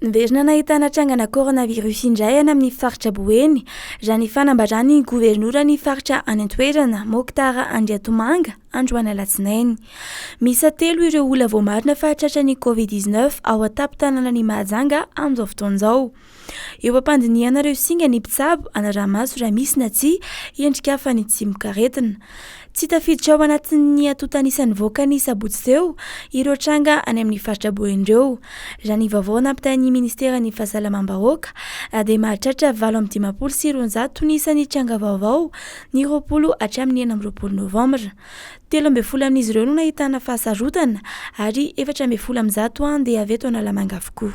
Niverina nahitana trangana coronavirus indray any amin'ny faritra Boeny, raha ny fanambaran'ny governoran'ny faritra any an-toerana, Mokhtar Andriatomanga, androany alatsinainy. Miisa telo ireo olona voamarina fa tratran'ny Covid dix neuf ao an-tampon-tanànan'i Mahajanga amin'izao fotoana izao. Eo am-pandinihana ireo singa ny mpitsabo hanaraha-maso raha misy na tsia endrika fanin-tsimok'aretina. Tsy tafiditra ao anatin'ny antontan'isa nivoaka ny sabotsy teo ireo tranga any amin'ny faritra Boeny ireo. Raha ny vaovao nampitain'ny ministeran'ny Fahasalamam-bahoaka dia mahatratra valo amby dimampolo sy roanjato ny isan'ny tranga vaovao ny roapolo hatramin'ny enina amby roapolo novambra. Telo ambin'ny folo amin'izy ireo no nahitana fahasarotana ary efatra ambin'ny folo amin'ny zato handeha avy eto Analamanga avokoa.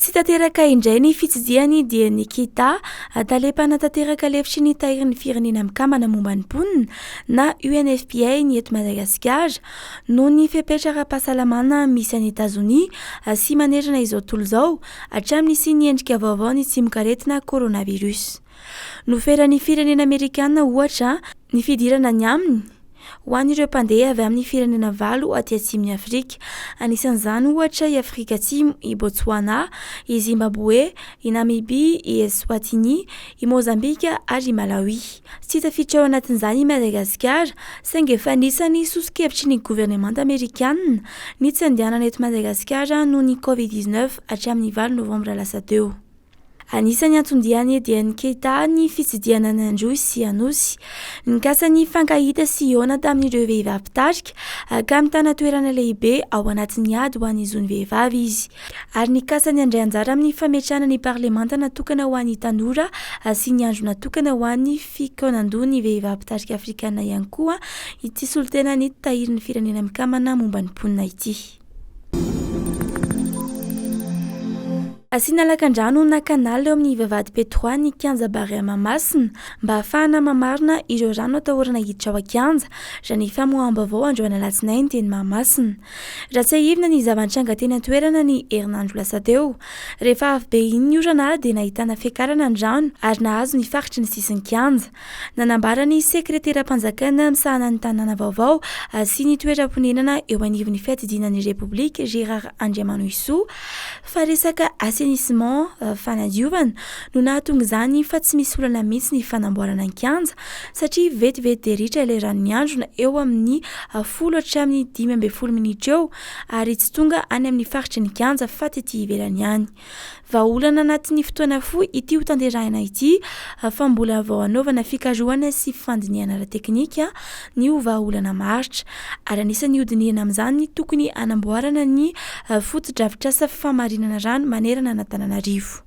Tsy tanteraka indray ny fitsidihany dia ny Kita, Tale mpanatanteraka lefitry ny Tahirin'ny Firenena Mikambana momba ny Mponina na UNFPA ny eto Madagasikara noho ny fepetra ara-pahasalamana misy any Etazonia sy manerana izao tontolo izao hatramin'ny nisian'ny endrika vaovao ny tsimokaretina Coronavirus. Noferan'ny firenena amerikana, ohatra, ny fidirana any aminy ho an'ireo mpandeha avy amin'ny firenena valo aty atsimon'i Afrika. Anisan'izany, ohatra, i Afrika Atsimo, i Botswana, i Zimbaboe, i Namibia, i Eswatini, i Mozambika ary i Malawi. Tsy tafiditra ao anatin'izany i Madagasikara, saingy efa anisan'ny soso-kevitry ny governemanta amerikana ny tsy handehanana eto Madagasikara noho ny Covid dix-neuf hatramin'ny valo novambra lasa teo. Anisan'ny anton-dian'i Ediene Keita ny fitsidihana ny Androy sy Anosy. Nikasa nifankahita sy hihaona tamin'ireo vehivavy mpitarika ka mitana toerana lehibe ao anatin'ny ady ho an'ny zon'ny vehivavy izy ary nikasa ny handray anjara amin'ny fametrahana ny parlemanta natokana ho an'ny tanora sy ny andro natokana ho an'ny fikaonandoha ny vehivavy mpitarika afrikana ihany koa ity solontenan'ny Tahirin'ny Firenena Mikambana momba ny Mponina ity. Asiana lakandrano na canal eo amin'ny vavahady Petroa ny kianja Barea Mahamasina mba hahafahana mamarina ireo rano atahorana hiditra ao an-kianja raha ny famoaham-baovao androany alatsinainy teny Mahamasina. Raha tsiahivina ny zava-nitranga teny an-toerana ny herinandro lasa teo. Rehefa avy be iny ny orana dia nahitana fiakarana ny rano ary nahazo ny faritry ny sisin'ny kianja. Nanambara ny sekreteram-panjakana misahana ny tanàna vaovao sy ny toeram-ponenana eo anivon'ny fiadidiana ny Repoblika, Gérard Andriamanohisoa, fa resaka assainissement, fanadiovana, no nahatonga izany fa tsy misy olana mihitsy ny fanamboarana ny kianja satria vetivety dia ritra ilay rano miandrona eo amin'ny folo hatramin'ny dimy ambin'ny folo minitra eo ary tsy tonga any amin'ny faritry ny kianja fa tety ivelany any. Vahaolana anatin'ny fotoana fohy ity ho tanterahina ity fa mbola vao hanaovana fikarohana sy fandinihana ara-teknika ny ho vahaolana maharitra, ary anisan'ny hodinihina amin'izany ny tokony hanamboarana ny fotodrafitrasa famarinana rano manerana an'Antananarivo.